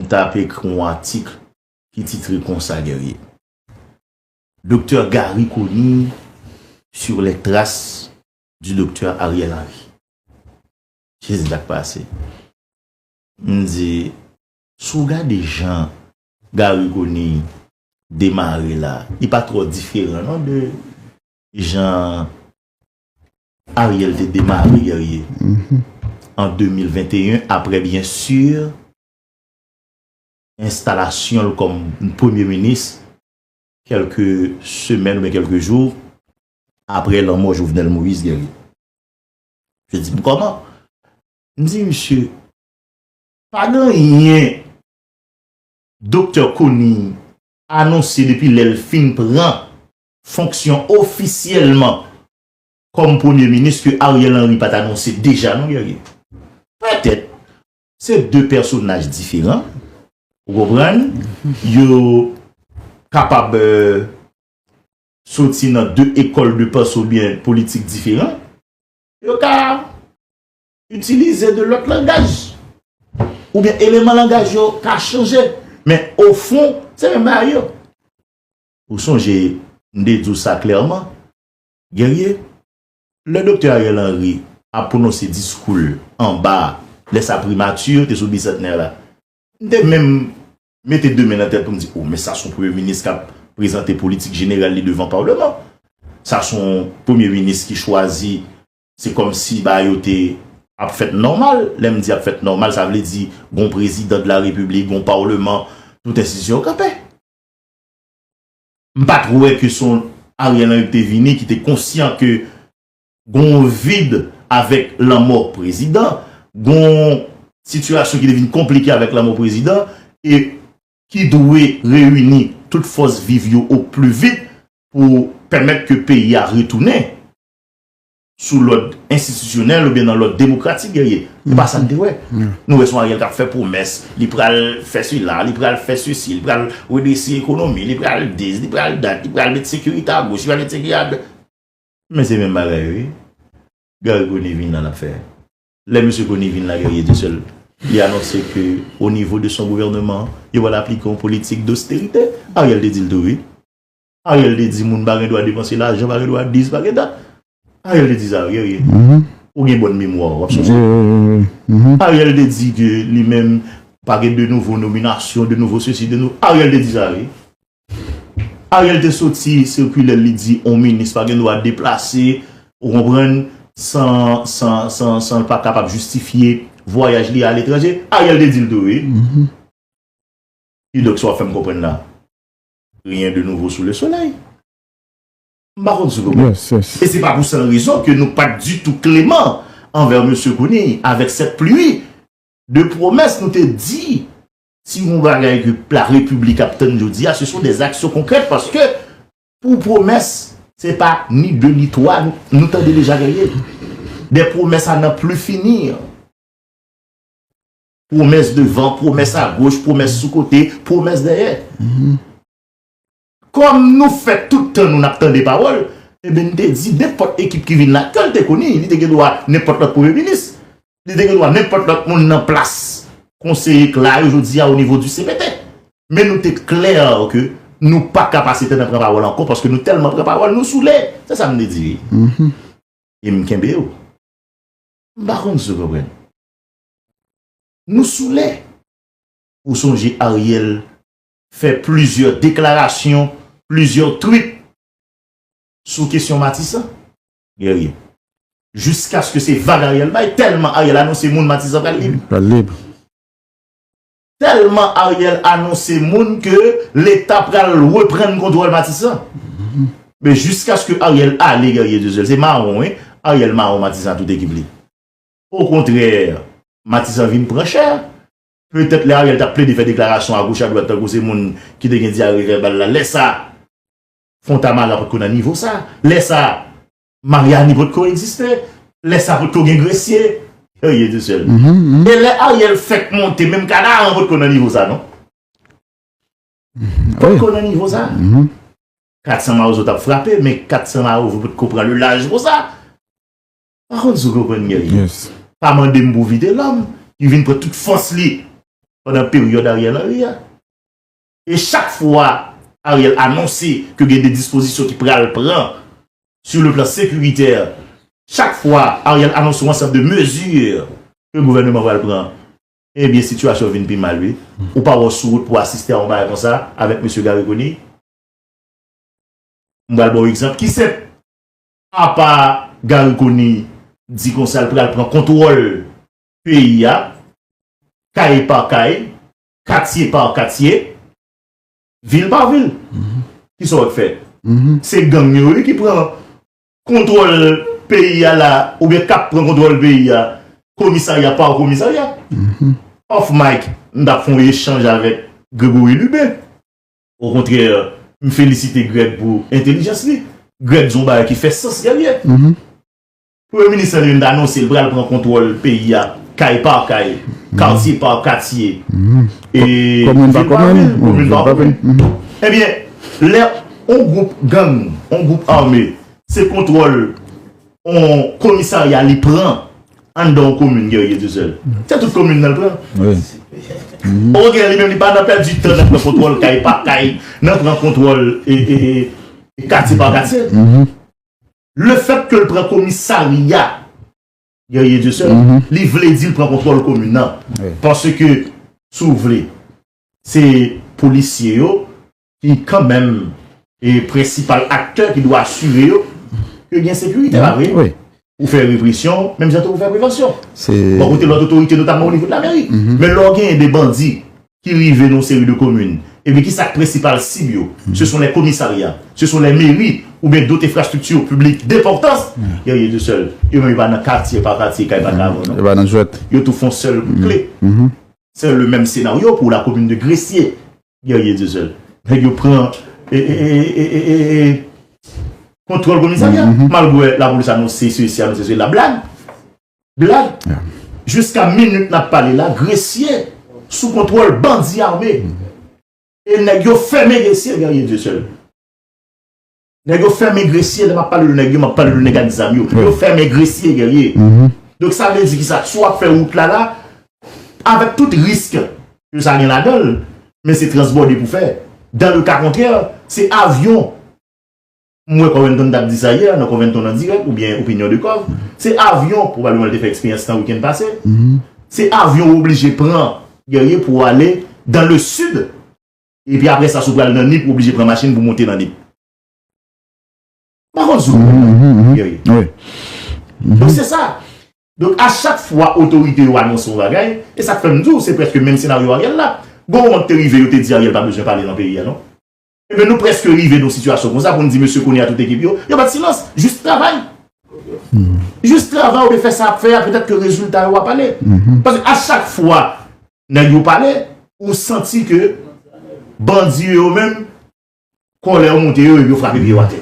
M t ap ekri yon atik ki titre konsa, Guerrier, Docteur Garry Conille sur les traces du Docteur Ariel Henry. Se sa k pase. M di, si w gade jan Garry Conille demare la, li pa twò diferan non de jan Ariel te demare Guerrier an 2021, aprè byen sur enstalasyon l kòm premye minis kèlke semèn oubyen kèlke jou aprè lanmò Jovenel Moïse Guerrier. Misye di m kòman? M di misye, pa gen anyen Doktè Conille anonse depi lè l fin pran fonksyon ofisyèlman kòm premye minis ke Ariel Henry pa t anonse deja non Guerrier. Pètèt Se de pèsonaj diferan, ou konprann, yo kapab soti nan de ekòl de panse ou byen politik diferan, yo ka itilize de lòt langaj, ou byen eleman langaj yo ka chanje, men o fon, se menm bagay yo. Ou sonje, m te di w sa klèman, Guerrier, Lè Doktè Ariel Henry ap pwononse diskou l anba a, lè sa Primati yo te sou Bisantnè la, m te menm mete de men nan tèt pou m di, o men sa s on Premye Minis k ap prezante politik jeneral li devan Palman. Sa s on Premye Minis ki chwazi, se kòmsi bagay yo te ap fèt nòmal. Lè m di ap fèt nòmal, sa vle di gon Prezidan de la Repiblik, gon Palman, tout enstitisyon yo kanpe. M pat wè ke son Ariel Henry ki te vini ki te konsyan ke gon yon vid avèk lanmò prezidan, gon yon sitiyasyon ki te vin konplike avèk lanmò prezidan e ki dwe reyini tout fòs viv yo o pli vit pou pèmèt ke peyi a retounen. sou lòd enstitisyonèl oubyen nan lòd demokratik Guerrier. Se pa sa n te wè. Nou wè se yon Ariel k ap fè pwomès, li pral fè sila, li pral fè sesi, li pral redrese ekonomi, li pral dis, li pral dat, li pral met sekirite a goch, li pral met sekirite a dwat. Men se menm bagay yo ye. Garry Conille vin la l ap fè. Lè mesye Conille vin la Guerrier te sèl. Li anonse ke onivo de son gouvèneman, yo pral aplike yon politik dosterite. Ariel te di l tou wi. Ariel te di moun pa gen dwa depanse lajan, pa gen dwa dis, pa gen dat. Ariel te di sa wi Guerrier. Ou gen bòn memwa w ap sonje. Ariel te di ke li menm pa gen de nouvo nominasyon, de nouvo sesi, de nouvo. Ariel te di sa wi. Ariel te soti sikilè l li di yon minis pa gen dwa deplase, ou konprann, san l pa kapab jistifye vwayaj li a letranje. Ariel te di l tou wi. Kidonk sa w ap fè m konprann la. Rien de nouveau sous le soleil. M pa konn si nou konprann. E se pa pou san rezon ke nou pat ditou kleman anvè Mesye Conille avèk sèt pli de pwomès nou te di si gon bagay ke la Repiblik ap tann jodi a se son dè zaksyon konkrèt paske pou pwomès se pa ni de ni twa nou tande deja genyen dè pwomès a nan pli fini. Pwomès devan, pwomès agoch, pwomès sou kote, pwomès dèyè. Kòm nou fè tout tan nou n ap tande pawòl, eben n te di nenpòt ekip ki vin la, ke l te koni, li te gen dwa nenpòt lòt premye minis, li te gen dwa nenpòt lòt moun nan plas konseye k la yo jodi a o nivo di cpt. Men nou te klè ke nou pa ka pase tan nan pran pawòl ankò paske nou tèlman pran pawòl nou soule. Se sa m te di. E m kenbe w. M pa konn si w konprann. Nou soule! Ou sonje Ariel fè plizyè deklarasyon, plizyè twit sou kesyon Matisan? Guerrier, Jiskaske se vag Ariel bay, tèlman Ariel anonse moun Matisan pral lib. Pral lib. Tèlman Ariel anonse moun ke leta pral reprann kontwòl Matisan. Men jiskaske Ariel ale Guerrier Dieuseul se mawon wi, Ariel mawon Matisan ak tout ekip li. Okontrè, Matisan vin pran chè. Petèt lè Ariel t ap plede fè deklarasyon agoch adwat tankou se moun ki te gen dyare vèbal la, lè sa a Fontamara potko nan nivo sa a, lè sa a Maryani potko egziste, lè sa a potko gen Gresye, Elie Dussel. E lè Ariel fèk monte menm Kanaran potko nan nivo sa a non. Potko nan nivo sa a. 400 mawozo t ap frape men 400 mawozo potko pran le laj konsa. Pa konn si w konprann mwen byen. Pa mande m pou Vitelòm ki vin pran tout fòs li pandan peryòd Ariel Henry a. E chak fwa Ariel anonse ke gen de dispozisyon ki pral pran sou le plan sekiritè, chak fwa Ariel anonse yon ansanm de mezi ke gouvèneman pral pran, ebyen sitiyasyon vin pi mal wi. Ou pa wè w sou wout pou w asiste a yon bagay konsa avèk mesye Garry Conille? M pral ba w egzanp ki senp. Apa Garry Conille di konsa l pral pran kontwòl peyi a, kay pa kay, katye pa katye, vil pa vil. Kisa w ap fè? Se gang yo wi ki pran kontwòl peyi a la oubyen k ap pran kontwòl peyi a komisarya pa komisarya. Off mic, m t ap fè yon echanj avèk Grégory Lubin. O kontrè, m felisite Greg pou entelijans li. Greg di yon bagay ki fè sans Guerrier. Premye minis lan li menm t anonse l pral pran kontwòl peyi a kay pa kay, katye pa katye, e vil pa vil, komin pa komin. Ebyen, lè yon gwoup gang, yon gwoup ame se kontwòl. on komisarya li pran anndan on komin Guerrier tou sèl. Se tout komin nan l pran. Wi. Poko gen li menm li pa nan pèdi tan nan pran kontwòl kay pa kay, nan pran kontwòl e e e katye pa katye. Le fèt ke l pran komisarya Guerrier tou sèl, li vle di l pran kontwòl komin nan. Paske si w vle se polisye yo ki kanmenm e prensipal aktè ki dwe asire yo ke gen sekirite, pa vre? Wi. Ou fè represyon, menm jan tou ou fè prevansyon. Se. Bò kote lòt otorite, notamman o nivo de la meri. Men lè w genyen de bandi ki rive nan yon seri de komin, epi ki sa k prensipal sib yo? Se son lè komisarya, se son lè meri, oubyen dot enfrastrikti piblik denpòtans, yo ye tou sèl. Yo menm yo pa nan katye pa katye, kay pa kay avè w non. Yo pa nan jwèt. Yo tou fon sèl kout kle. Se le menm senaryo pou la komin de gresye Guerrier Dieuseul nèg yo pran kontrol komisarya malgre la polis anonse sesi anonse sela blag blag jiska minit nap pale la gresye sou kontrol bandi ame e nèg yo fèmen gresye Guerrier Dieuseul. Nèg yo fèmen gresye, lè m ap pale de nèg yo, m ap pale de nèg ak zam yo. Yo fèmen gresye, gèrye. Donk sa vle di ki sa? Si w ap fè wout la la, avèk tout risk ke sa gen ladan l, men se transbòde pou fè. Dan le ka kontrè, se avyon, m wè Covington t ap di sa yè nan Covington an dirèk oubyen Opinion de Cov, se avyon, pwobableman l te fè eksperyans lan wikenn pase, se avyon w oblije pran, gèrye, pou w ale dan le sid. Epi apre sa si w pral nan nip ou oblije pran machin pou monte nan nip. M pa konn si w konprann Guerrier. Donk se sa. Donk a chak fwa otorite yo anonse yon bagay, e sa k fè m di w se prèske menm senaryo Ariel la. Gon moman ki te rive yo te di Ariel pa bezwen pale nan peyi a non. Enben nou prèske rive nan yon sitiyasyon konsa pou n di mesye kounye a tout ekip yo, yo bat silans. Jis travay. Jis travay ou byen fè sa w ap fè a petèt ke rezilta yo a pale. Paske a chak fwa nèg yo pale, ou santi ke bandi yo yo menm, kòlè yo monte yo, epi yo frape pye yo atè.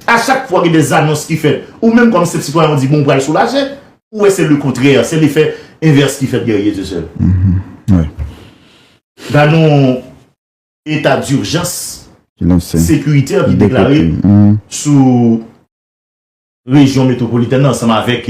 A chak fwa gen de zanons ki fèt, ou menm kòm senp sitwayen ou di bon ou pral soulaje, ou wè se le kontrè, se lefè envès ki fèt Guerrier Dieuseul. Gad yon eta durjans sekuritè ki deklare sou rejyon metropolitèn nan ansanm avèk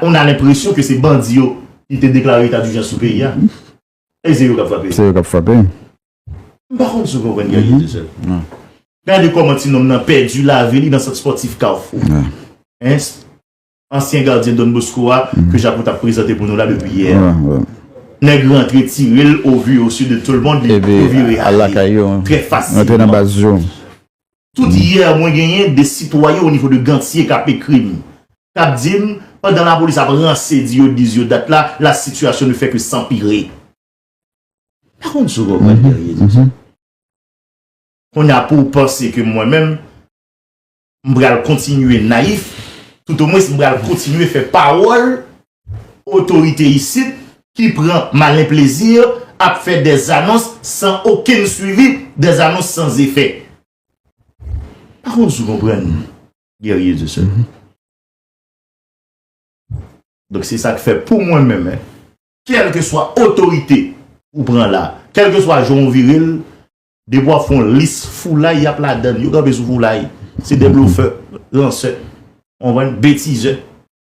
On a l'impression que se bandi yo ki te deklare eta d'urgence sou peyi a. E se yo k'ap frape. Se yo k'ap frape. M pa konn si w konprann Guerrier Desel. Non. Gade kòman ti nonm nan pèdi lavi li nan sant spòtif Carrefour. Hein? Ansyen gardyen Don Bosco a ke Jako t'ap prezante pou nou la depi yè a. Nèg rantre tire l au vu et au su de tout le monde li tou vire ale. Trè fasilman. Rantre nan baz yo. Tout yè mwen genyen de sitwayen au niveau de Ganthier k'ap ekri m. kap dim pandan la polis ap ranse di yo diz yo dat la la sitiyasyon ne fè ke sanpire. Pa konn si w konprann Guerrier di sa. Kounye a pouw panse ke mwen menm m pral kontinye nayif tout o mwens m pral kontinye fè pawòl otorite isit ki pran malen plezi ap fè dè zanons san okenn swivi, dè zanons san zefè. Pa konn si w konprann. Guerrier du Sud. Donk se sa k fè pou mwen menm, kèlke swa otorite ou pran la, kèlke swa jan ou vire l, depi w ap fè yon lis foulay y ap ladan l, yo kanpe sou foulay, se de blofè, ransè, betizè.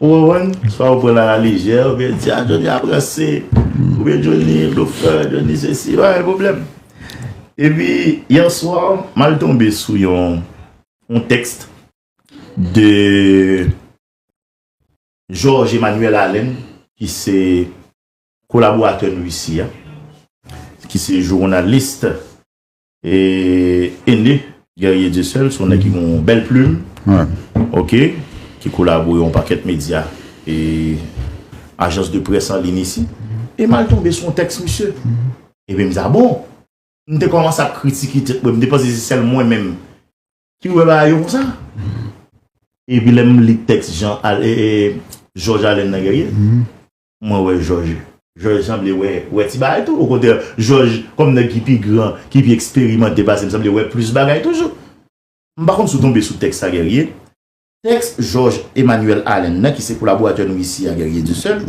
Ou konprann? Se pa pou pran a la lejè, ou byen di a Johnny ap ranse, ou byen Johnny blofè, Johnny sesi, pa gen pwoblèm. E pi, yè swa, m al tonbe sou yon text de Georges Emmanuel Alain ki se kolaboratè nou isi a, ki se journaliste. Et Aîné Guerrier Dieuseul son nèg ki gen yon bèl plume ok ki kolabore yon pakèt medya e ajans de près an lin isi e m al tonbe sou yon tèks misye epi m di a bon m te kòmanse ap kritike tèt mwen m te panse se sèl mwen menm ki wè bagay yo konsa epi lè m li tèks Jean Jòj Alèn nan Guerrier Mwen wè jòj jòj sanble wè wè ti bagay tou okontrè jòj kòm nèg ki pi gran ki pi eksperimante pasem sanble wè plis bagay toujou m pa konn si w tonbe sou tèks sa Guerrier tèks jòj Emmanuel Allen nan ki se kolaboratè nou isi a Guerrier Dieuseul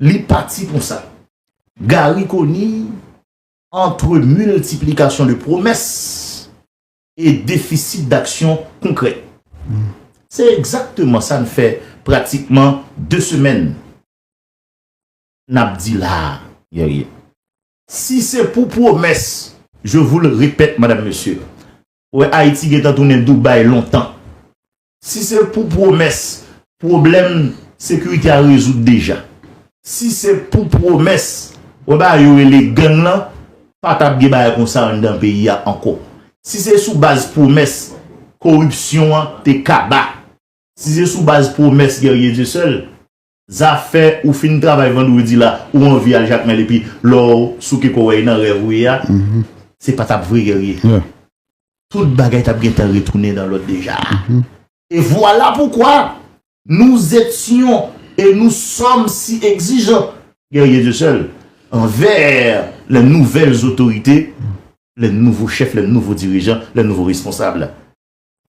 li pati konsa Garry Conille entre multiplication de promesses e defisit daksyon konkrè. Se egzakteman sa n fè pratikman 2 semèn n ap di la a, Guerrier. Si se pou pwomès, je vous le répète, madame, monsieur, ou wè Ayiti gen tan tounen Dubaï lontan. Si se pou pwomès, pwoblèm sekirite a rezoud deja. Si se pou pwomès, wè bagay yo rele gang lan, pa t ap gen bagay konsa anndan peyi a ankò. Si se sou baz pwomès, koripsyon an te kaba. Si se sou baz pwomès Guerrier Dieuseul, Zafè ou fin travay vandredi la ou anvi al jakmel epi lèw souke kòw wè e nan rèv ou ye a se pa tap vre Guerrier tout bagay tap gentan retounen dan lòd deja e vwala poukwa nous etyon e nous sòm si egzijan Guerrier Dieu seul anvè lè nouvèl zotorite lè nouvo chèf lè nouvo dirijan lè nouvo responsab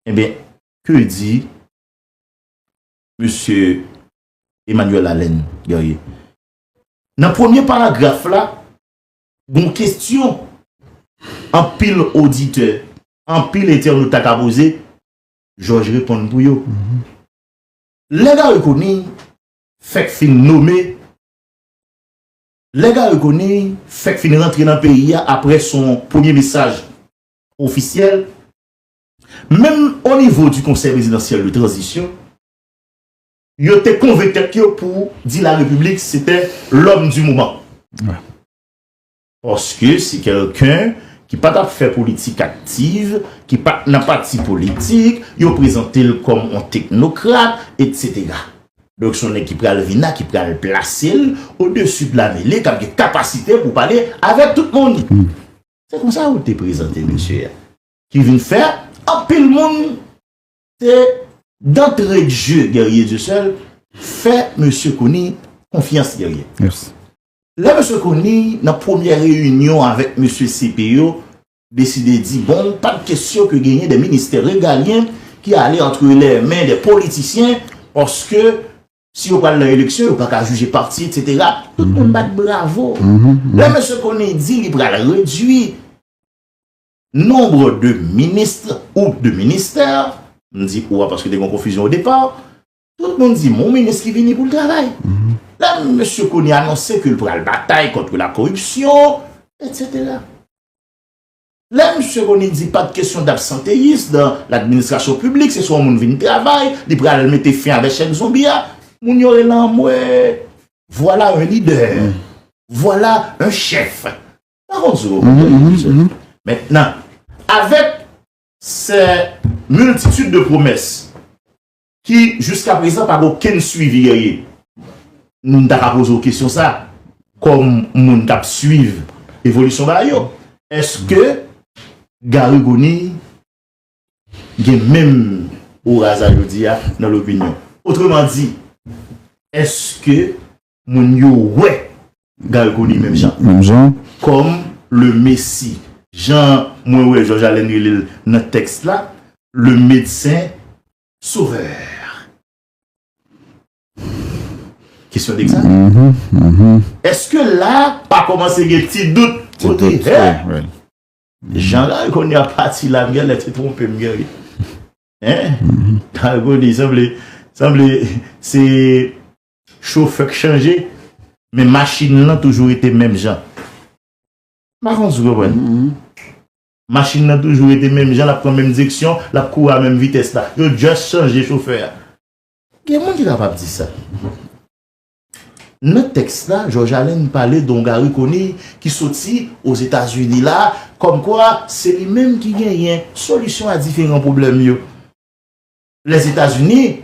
enben ke di. Mesye Emmanuel Allen Guerrier. Nan premye paragraf la, gon kestyon anpil oditè, anpil entènot ta ka poze, Jòj reponn pou yo. Lè Garry Conille fèk fin nome, lè Garry Conille fèk fin rantre nan peyi a apre son premye mesaj ofisyèl, Menm o nivo di konsèy prezidansyèl de tranzisyon, yo te konvenk tèt yo pou di la repiblik se te lòm di moman. Paske se kèlken ki pa tap fè politik aktiv, ki pat nan pati politik, yo prezante l kòm on teknokrat, etsetera. Donk se on nèg ki pral vin la, ki pral plase l o desu de la mele, kap gen kapasite pou pale avèk tout moun. Se konsa yo te prezante mesye a. ki vin fè anpil moun te dantre dje Guerrier Dieuseul fè mesye Conille konfyans Guerrier. Lè mesye Conille nan premyè reyinyon avèk mesye CP yo deside di bon pa de kesyon ke genyen de ministè regalyen ki ale antre lè men de politisyen paske si yo pral nan eleksyon yo pa ka jije pati etc. Tout moun bat bravo. Lè mesye Conille di li pral redwi Nombre de ministres ou de ministères, m di ou a paske te gen yon konfizyon o depa, tout moun di m yon minis ki vini pou l travay. La m mesye Conille anonse ke l pral batay kontre la koripsyon, etsetera. La m mesye Conille di pa de kesyon dabsanteyis dan ladministrasyon piblik, se swa yon moun vin travay, li pral mete fen avèk chèn zonbi a, moun yo rele anmwe, vwala yon lidè, vwala yon chèf. Mwen konn sou yo mwen konn sou yo. Men nan. Avèk se multitude de promès ki jiska prezan pa gen okenn swivi dèyè. Nou ta ka poze yo kesyon sa kòm moun k ap swiv evolisyon bagay yo. Eske Garry Conille gen menm oura sa jodi a nan lopinyon? Otreman di, eske Moun yo wè Gal Koni menm jan. Menm jan. Kòm le Messi. Jan mwen wè Jòj Alèn rele l nan tèks la, le Medsen Sovèè. Kesyon degzame. Èske la a pa kòmanse gen ti dout kote hè? Jan Gal Koni ap pati la m gen lè te twonpe m gen ri. Hein? Gal Koni sanble, sanble se. Chofè k chanje, men machin lan toujou rete menm jan. M pa konn si w konprann. Machin lan toujou rete menm jan, l ap pran menm direksyon, l ap kouri a menm vitès la. Yo just chanje chofè a. Gen moun ki kapab di sa. Nan tèks la, Jòj Alen pale de yon Gari Koniy ki soti Ozetazini la, kòmkwa se li menm ki genyen solisyon a diferan pwoblèm yo. Lèzetazini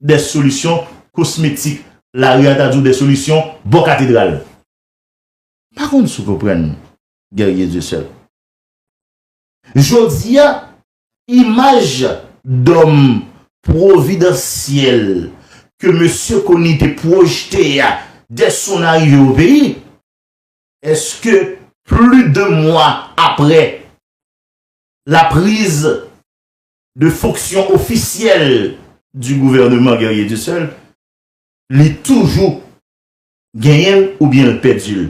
dè solisyon kosmetik, lari a ta di w dè solisyon bò katedral. M pa konn si w konprann Guerrier Dieuseul. Jodi a, imaj dòm pwovidansyèl ke Mesye Conille te pwojte a dè son arive o peyi, èske pli de mwa apre la priz de fonksyon ofisyèl di gouvèneman Guerrier Dussel, li toujou genyen l oubyen l pèdi l.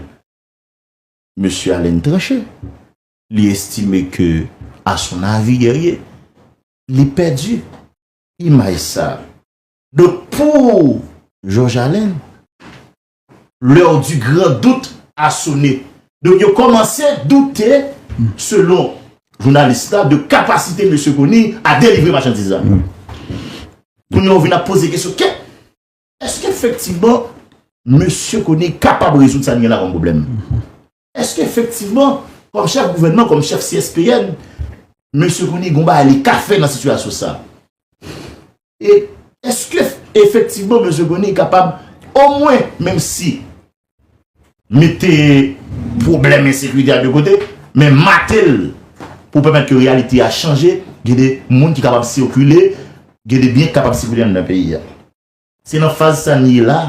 Mesye Allen tranche, li estime ke a son avi Guerrier, li pèdi imaj sa. Donk pou Georges Allen, L'heure du grand doute a sonné. Donk yo kòmanse doute selon jounalis la de kapasite Mesye Conille a delivre machandiz la. Kounye a ou vin ap poze kesyon kè èske efektivman Mesye Conille kapab rezoud sa li gen la kòm pwoblèm? Eske efektivman, kòm chèf gouvènman, kòm chèf CSPN, Mesye Conille gon bagay li ka fè nan sitiyasyon sa? E eske efektivman Mesye Conille kapab omwen menm si mete pwoblèm ensekirite a de kote, men mate l pou pèmèt ke reyalite a chanje, gen de moun ki kapab sikile, gen de byen ki kapab sikile anndan peyi a? Se nan faz sa n ye la.